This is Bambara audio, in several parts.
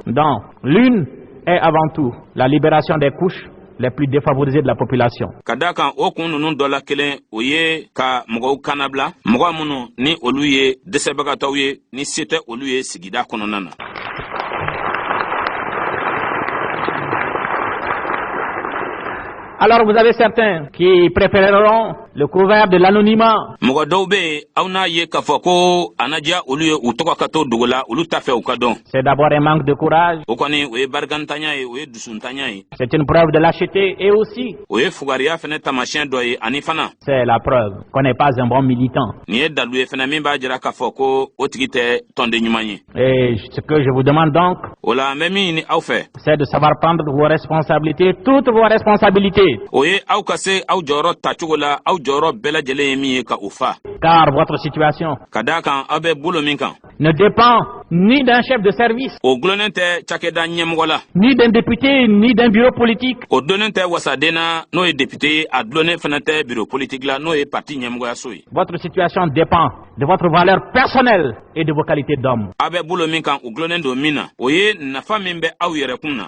Donc, l'une est avant tout la libération des couches les plus défavorisées de la population. Ka d'a kan o kun ninnu dɔ la kelen o ye ka mɔgɔw kannabila mɔgɔ minnu ni olu ye dɛsɛbagatɔw ye ni se tɛ olu ye sigida kɔnɔna na. Alors vous avez certains qui préféreront le couvert de l'anonymat. Mɔgɔ dɔw bɛ yen aw n'a ye k'a fɔ ko a na diya olu ye u tɔgɔ ka to dogo la olu t'a fɛ u ka dɔn. C'est d'abord un manque de courage. O kɔni o ye barikantanya ye o ye dusuntanya ye. C'est une preuve de lâcheté et aussi. O ye fugariya fana taamasiyɛn dɔ ye ani fana. C'est la preuve qu'on n'est pas un bon militant. Nin ye dalu ye fana min b'a jira k'a fɔ ko o tigi tɛ tɔnden ɲuman ye. Et ce que je vous demande donc. O la n bɛ min ɲini aw fɛ. C'est de savoir prendre vos responsabilités toutes vos responsabilités. O ye aw ka se aw jɔyɔrɔ ta cogo la aw jɔyɔrɔ bɛɛ lajɛlen ye min ye ka o fa. Car votre situation. Ka d'a kan aw bɛ bolo min kan. ne dépend ni d'un chef de service. O dulonnen tɛ cakɛda ɲɛmɔgɔ la. Ni d'un député ni d'un bureau politique. O dulonnen tɛ wasaden na n'o ye député ye a dulonnen fana tɛ bureau politique la n'o ye parti ɲɛmɔgɔyaso ye. Votre situation dépend de votre valeur personnelle et de vos qualités d'homme. Aw bɛ bolo min kan o dulonnen don min na o ye nafa min bɛ aw yɛrɛkun na.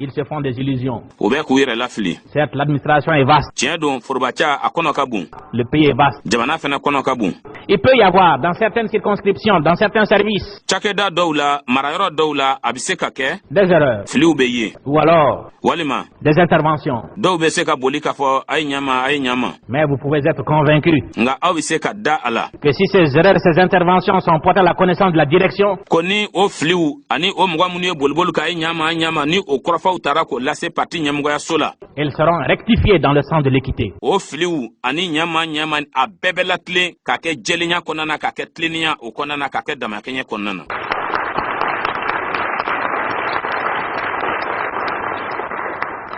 Ils se font des illusions. U bɛ k'u yɛrɛ lafili. Certes, l'administration est vaste. Tiɲɛ don forobaca a kɔnɔ ka bon. Le pays est vaste. Jamana fana kɔnɔ ka bon. Il peut y avoir dans certaines circonscriptions, dans certains services. Cakɛda dɔw la, marayɔrɔ dɔw la, a bɛ se ka kɛ. Des erreurs. Filiw bɛ ye. Ou alors. Walima. Des interventions. Dɔw bɛ se ka boli k'a fɔ a ye ɲa n ma, a ye ɲa n ma. Mais vous pouvez être convaincus. Nga aw bɛ se ka da a la. Que si ces erreurs, ces interventions sont portées à la connaissance de la direction. Ko ni o filiw ani o mɔgɔ minnu ye boliboli k'a ye ɲa n ma ɲa n ma ni o kɔrɔfɔw taara k'o lase parti ɲɛmɔgɔyaso la. Elles seront rectifiées dans le sens de l'équité. O filiw ani ɲa n ma ɲa n ma a bɛɛ bɛ latilen ka kɛ jɛlenya kɔnɔna na ka kɛ tilennenya o kɔnɔna na ka kɛ damakɛɲɛ kɔnɔna na.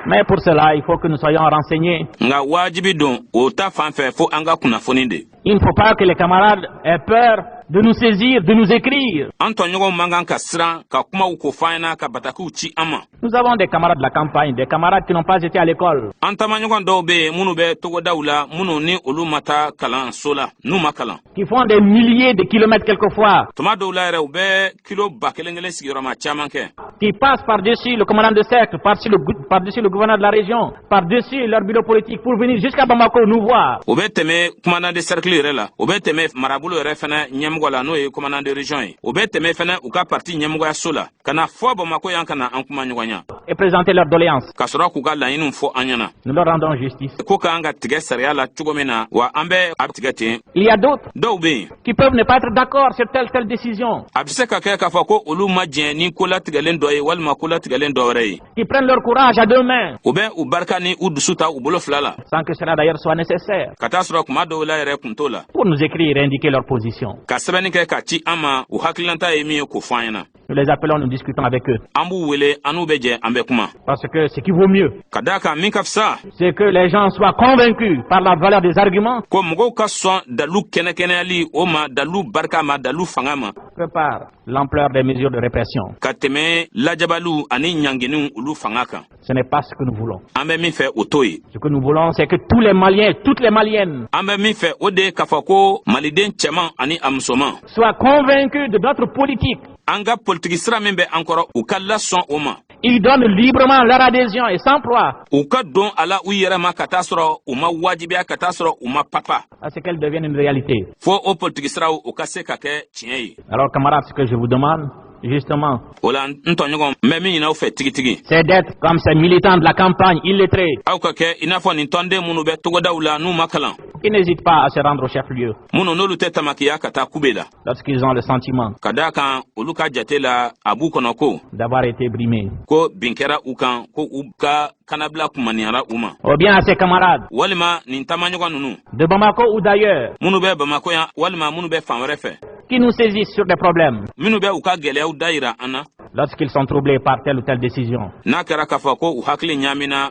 Mais pour cela, il faut que nous soyons renseignés. Nga wajibi don o ta fan fɛ fo an ka kunnafoni de. Il ne faut pas que les camarades aient peur de nous saisir, de nous écrire. An tɔɲɔgɔnw man kan ka siran ka kumaw ko f'an ɲɛna ka batakiw ci an ma. Nous avons des camarades de la campagne, des camarades qui n'ont pas été à l'école. An taamaɲɔgɔn dɔw bɛ yen minnu bɛ togodaw la minnu ni olu ma taa kalanso la n'u ma kalan. qui font des milliers de kilomètres quelquefois. Tuma dɔw la yɛrɛ u bɛ kilo ba kelen kelen sigiyɔrɔma caman kɛ. Qui passent par dessus le commandant de cercle, par dessus le, par dessus le gouverneur de la région, par dessus leur bureau politique pour venir jusqu'à Bamako nous voir. U bɛ tɛmɛ commandant de cercle yɛrɛ la, u bɛ tɛmɛ marabolo yɛrɛ fana ɲɛmɔgɔ la n'o ye commandant de région ye, u bɛ tɛmɛ fana u ka parti ɲɛmɔgɔyaso la. ka na fɔ bamako yan ka na an kumaɲɔgɔnya et présenter leurs doléances ka sɔrɔ k'u ka laɲiniw fɔ an ɲɛna nous leur rendons justice ko k'an ka tigɛ sariya la cogo min na wa an bɛ a tigɛ ten il y a d'autres dɔw bɛ yen qui peuvent ne pas être d'accord sur telle et telle décision a bɛ se ka kɛ k'a fɔ ko olu ma jɛn ni ko latigɛlen dɔ ye walima ko latigɛlen dɔ wɛrɛ ye qui prennent leur courage à deux mains. U bɛ u barika ni u dusu ta u bolo fila la. Sans que cela d'ailleurs soit nécessaire. Ka t'a sɔrɔ kuma dɔw la yɛrɛ kun t'o la. Pour nous écrire et indiquer leur position. Ka sɛbɛnni kɛ k'a ci an ma u hakililanta ye min ye k'o fɔ an ɲɛna. Nous les appelons, nous discutons avec eux. An b'u wele, an n'u bɛ jɛ, an bɛ kuma. Parce que ce qui vaut mieux. Ka d'a kan min ka fisa. C'est que les gens soient convaincus par la valeur des arguments. Ko mɔgɔw ka sɔn dalu kɛnɛkɛnɛyali o ma, dalu barika ma, dalu fanga ma. Que par. l'ampleur des mesures de répression. Ka tɛmɛ lajabaliw ani ɲanginiw olu fanga kan. Ce n'est pas ce que nous voulons. An bɛ min fɛ o t'o ye. Ce que nous voulons c'est que tous les Maliens, toutes les Maliennes. An bɛ min fɛ o de ye k'a fɔ ko Maliden cɛman ani a musoman. Soient convaincus de notre politique. An ka politiki sira min bɛ an kɔrɔ u ka lasɔn o ma. Ils donnent librement leur adhésion et s'emploient. U ka don a la u yɛrɛ ma ka t'a sɔrɔ u ma wajibiya ka t'a sɔrɔ u ma papa. À ce qu'elle devienne une réalité. Fo o politiki siraw u ka se ka kɛ tiɲɛ ye. Alors camarades, ce que je vous demande justement. O la n tɔɲɔgɔn n bɛ min ɲini aw fɛ tigitigi. C'est d'être comme ces militants de la campagne illettrés. Aw ka kɛ i n'a fɔ nin tɔnden minnu bɛ togodaw la n'u ma kalan. Qui n'hésitent pas à se rendre au chef-lieu. Minnu n'olu tɛ tamakiya ka taa kube la. lorsqu'ils ont le sentiment. Ka d'a kan olu ka jate la a b'u kɔnɔ ko. D'avoir été brimés. Ko bin kɛra u kan ko u ka kanabila kumaniyara u ma. Ou bien à ces camarades. Walima nin taamaɲɔgɔn ninnu. De Bamako ou d'ailleurs. Minnu bɛ Bamako yan walima minnu bɛ fan wɛrɛ fɛ. Qui nous saisissent sur des problèmes. Minnu bɛ u ka gɛlɛyaw dayira an na. Lorsqu'ils sont troublés par telle ou telle décision. N'a kɛra k'a fɔ ko u hakili ɲaamina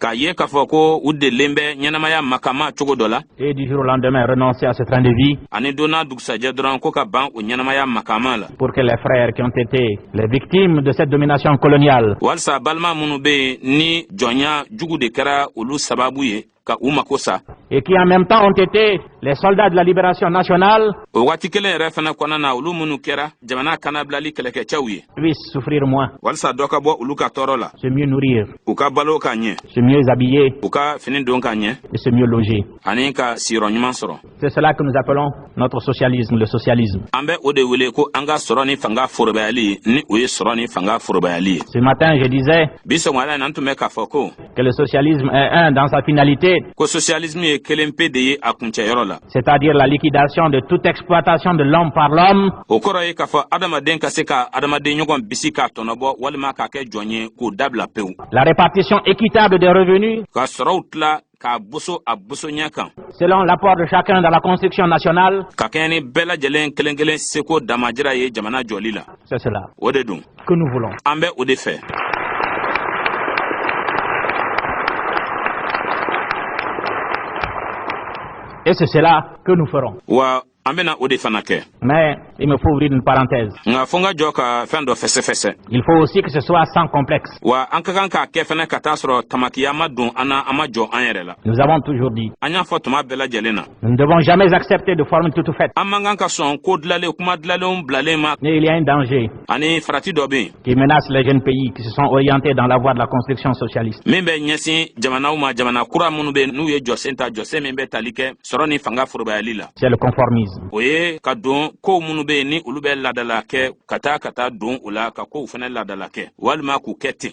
k'a ye k'a fɔ ko u delilen bɛ ɲɛnamaya makama cogo dɔ la et du jour au lendemain renoncer à ce train de vie ani don n'a dugusajɛ dɔrɔn ko ka ban o ɲɛnamaya makama la pour que les frères qui ont été les victimes de cette domination coloniale walisa balima minnu bɛ yen ni jɔnya jugu de kɛra olu sababu ye ka u mako sa et qui en même temps ont été les soldats de la libération nationale o wagati kelen yɛrɛ fana kɔnɔna na olu minnu kɛra jamana kanabilali kɛlɛkɛcɛw ye puissent souffrir moins walisa dɔ ka bɔ olu ka tɔɔrɔ la se mieux nourrir u ka balo ka ɲɛ se mieux habiller u ka fini don ka ɲɛ et se mieux loger ani ka siyɔrɔ ɲuman sɔrɔ c'est cela que nous appelons notre socialisme le socialisme an bɛ o de wele ko an ka sɔrɔ ni fanga forobayali ni o ye sɔrɔ ni fanga forobayali ye ce matin je disais bi sɔgɔmada in na n tun bɛ k'a fɔ ko que le socialisme est un dans sa finalité. Ko socialisme ye kelen pe de ye a kuncɛyɔrɔ la. C'est-à-dire la liquidation de toute exploitation de l'homme par l'homme. O kɔrɔ ye k'a fɔ adamaden ka se ka adamaden ɲɔgɔn bisi k'a tɔnɔbɔ walima k'a kɛ jɔn ye k'o dabila pewu. La répartition équitable des revenus. Ka sɔrɔw tila k'a boso a bosoɲɛ kan. Selon l'apport de chacun dans la construction nationale. Ka kɛɲɛ ni bɛɛ lajɛlen kelen-kelen seko damajira ye jamana jɔli la. C'est cela. O de don. Que nous voulons. An bɛ o de fɛ. Et c'est cela que nous ferons. Wa an bɛna o de fana kɛ. Mais il me faut ouvrir une parenthèse. Nka fo n ka jɔ ka fɛn dɔ fɛsɛfɛsɛ. Il faut aussi que ce soit sans complexe. Wa an ka kan k'a kɛ fana ka t'a sɔrɔ tamakiya ma don an na an ma jɔn an yɛrɛ la. Nous avons toujours dit. An y'a fɔ tuma bɛɛ lajɛlen na. Nous ne devons jamais accepter de formules toutes faites. An man kan ka sɔn ko dilanlen kuma dilanlenw bilalen ma. Mais il y a un danger. Ani farati dɔ bɛ yen. Qui menace les jeunes pays qui se sont orientés dans la voie de la construction socialiste. Min bɛ ɲɛsin jamanaw ma jamana kura minnu bɛ yen n'u ye jɔsen ta jɔsen min bɛ tali kɛ sɔrɔ ni fanga forobayali la. C'est le conformisme. O ye ka don kow minnu bɛ yen ni olu bɛ laadala kɛ ka taa ka taa don o la ka kow fana laadala kɛ walima k'u kɛ ten.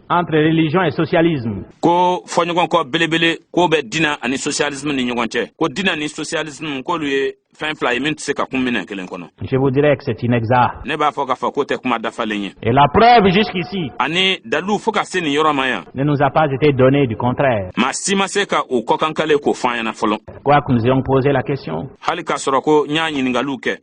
entre religion et socialisme. Ko fɔɲɔgɔnkɔ belebele k'o bɛ dina ani socialisme ni ɲɔgɔn cɛ ko dina ni socialisme k'olu ye fɛn fila ye min tɛ se ka kun minɛn kelen kɔnɔ. Je vous dirais que c'est inexact. Ne b'a fɔ k'a fɔ k'o tɛ kuma dafalen ye. Et la preuve jusqu'ici. Ani dalilu fo ka se nin yɔrɔ ma yan. Ne nous a pas été donnée du contraire. Maa si ma se ka o kɔkankale k'o fɔ an ɲɛna fɔlɔ. Quoique nous ayons posé la question. Hali k'a sɔrɔ ko n y'a ɲininkaliw kɛ.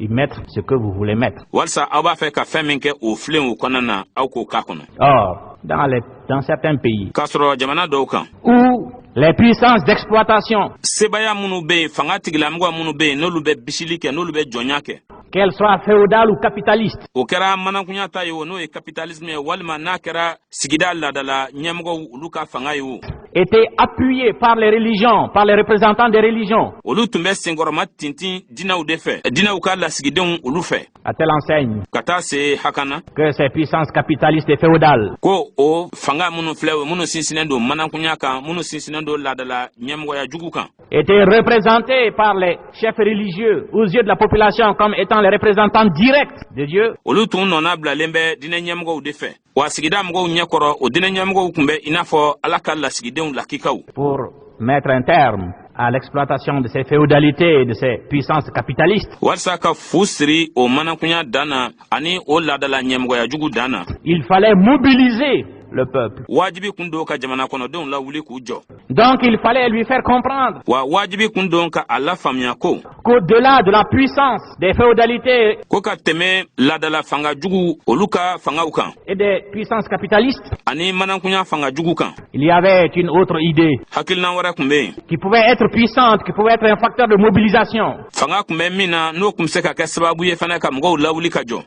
y mettre ce que vous voulez mettre walisa aw b'a fɛ ka fɛn min kɛ o filen o kɔnɔna na aw k'o k'a kɔnɔ or dans les dans certains pays k'a sɔrɔ jamana dɔw kan où les puissances d'exploitation sebaya minnu bɛ yen fanga tigilamɔgɔ minnu bɛ yen n'olu bɛ bisili kɛ n'olu bɛ jɔnya kɛ qu'elles soient féodales ou capitalistes o kɛra manankunya ta ye o n'o ye capitalisme ye walima n'a kɛra sigida laadala ɲɛmɔgɔw olu ka fanga ye o étaient appuyées par les religions, par les représentants des religions. Olu tun bɛ senkɔrɔma tintin dinaw de fɛ, dinaw ka lasigidenw olu fɛ. À telle enseigne. Ka taa se hakana. Que ces puissances capitalistes et féodales. Ko o fanga minnu filɛ o minnu sinsinnen don manankunya kan, minnu sinsinnen don laadala ɲɛmɔgɔya jugu kan. Étaient représentées par les chefs religieux aux yeux de la population comme étant les représentants directs de Dieu. Olu tun nɔna bilalen bɛ diinɛ ɲɛmɔgɔw de fɛ. wa sigida mɔgɔw ɲɛkɔrɔ o diinɛ ɲɛmɔgɔw tun bɛ i n'a fɔ Ala ka lasigidenw lakikaw pour mettre un terme à l'exploitation de ces féodalités et de ces puissances capitalistes. Walisa ka fu siri o manankunya dan na ani o laadala ɲɛmɔgɔya jugu dan na. Il fallait mobiliser le peuple. Wajibi kun don ka jamana kɔnɔdenw lawuli k'u jɔ. Donc il fallait lui faire comprendre. Wa wajibi kun don ka a lafaamuya ko. Qu'au-delà de la puissance des féodalités. Ko ka tɛmɛ laadala fanga juguw olu ka fangaw kan. Et des puissances capitalistes. Ani manankunya fanga jugu kan. Il y avait une autre idée. Hakilinan wɛrɛ kun bɛ yen. Qui pouvait être puissante, qui pouvait être un facteur de mobilisation. Fanga kun bɛ min na n'o kun bɛ se ka kɛ sababu ye fana ka mɔgɔw lawuli ka jɔ.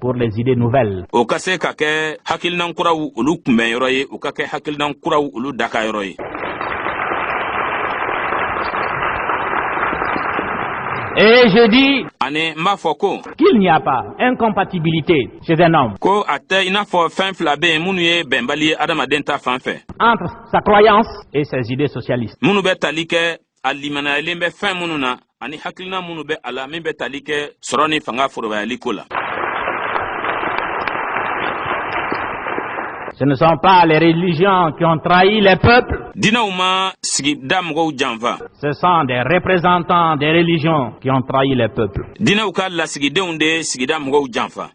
pour les idées nouvelles. O ka se ka kɛ hakilinan kuraw olu kunbɛn yɔrɔ ye, o ka kɛ hakilinan kuraw olu daka yɔrɔ ye. Et je dis ani n b'a fɔ ko qu'il n'y a pas incompatibilité chez un homme ko a tɛ i n'a fɔ fɛn fila bɛ yen minnu ye bɛnbali ye adamaden ta fan fɛ entre sa croyance et ses idées socialistes minnu bɛ tali kɛ a limanayalen bɛ fɛn minnu na ani hakilina minnu bɛ a la min bɛ tali kɛ sɔrɔ ni fanga forobayali ko la Ce ne sont pas les religions qui ont trahi les peuples. Diinɛw ma sigida mɔgɔw janfa. Ce sont des représentants des religions qui ont trahi les peuples. Diinɛw ka lasigidenw de ye sigida mɔgɔw janfa.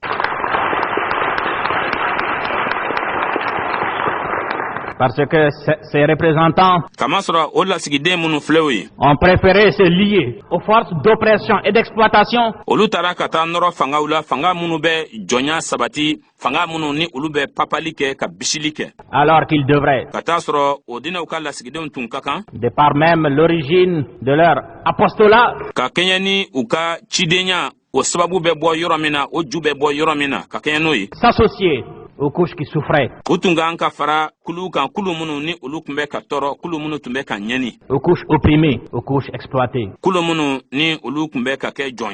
Parce que ces représentants. K'a masɔrɔ o lasigiden minnu filɛ o ye. ont préféré se lier aux forces d'oppression et d'exploitation. olu taara ka taa nɔrɔ fangaw la fanga minnu bɛ jɔnya sabati fanga minnu ni olu bɛ papali kɛ ka bisili kɛ. alors qu'ils devraient. ka t'a sɔrɔ o diinɛw ka lasigidenw tun ka kan. de par même l'origine de leur apostolat. ka kɛɲɛ ni u ka cidenya o sababu bɛ bɔ yɔrɔ min na o ju bɛ bɔ yɔrɔ min na ka kɛɲɛ n'o ye s'associer aux couches qui souffraient u tun ka kan ka fara kuluw kan kulu minnu ni olu tun bɛ ka tɔɔrɔ kulu minnu tun bɛ ka ɲɛni aux couches opprimées aux couches exploitées kulu minnu ni olu tun bɛ ka kɛ jɔn